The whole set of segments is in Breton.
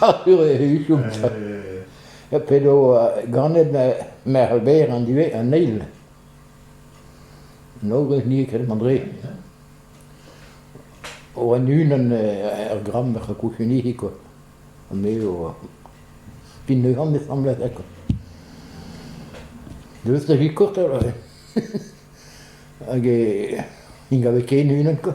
Muioc'h-sur e huchomp ha p'edo ganet merc'h berr an ivez an eil. Nogez nie ket André. Oan unan er gramm er c'houchunihi quoi. Me eo pin ne gant esamblez quoi. Deus da vi kort hag e hag ken unan quoi.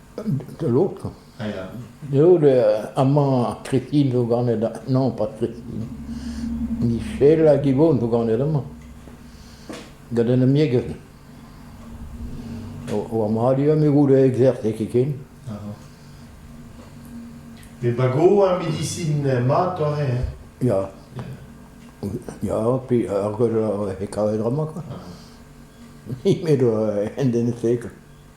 de l'autre. Eo amañ Kristin zo ganet non pas Kristin. Michel hag Yvonne zo ganet amañ. Gant un amiegez. O amadur me goût da exercer ken. Met bago ar medisin mat ore hein? Ya. Ya, puis ar gwell he kavet ramañ quoi. Me do en den sek.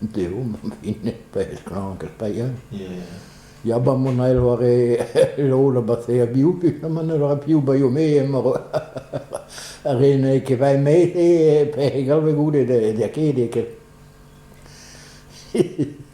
Deu ma fine pezh klank eus paeañ. Ya ba mon ael war e lol ba se a biou puta ma ne ra piv baio me emañ ar re ne ket va met pe galve goude da ket ket.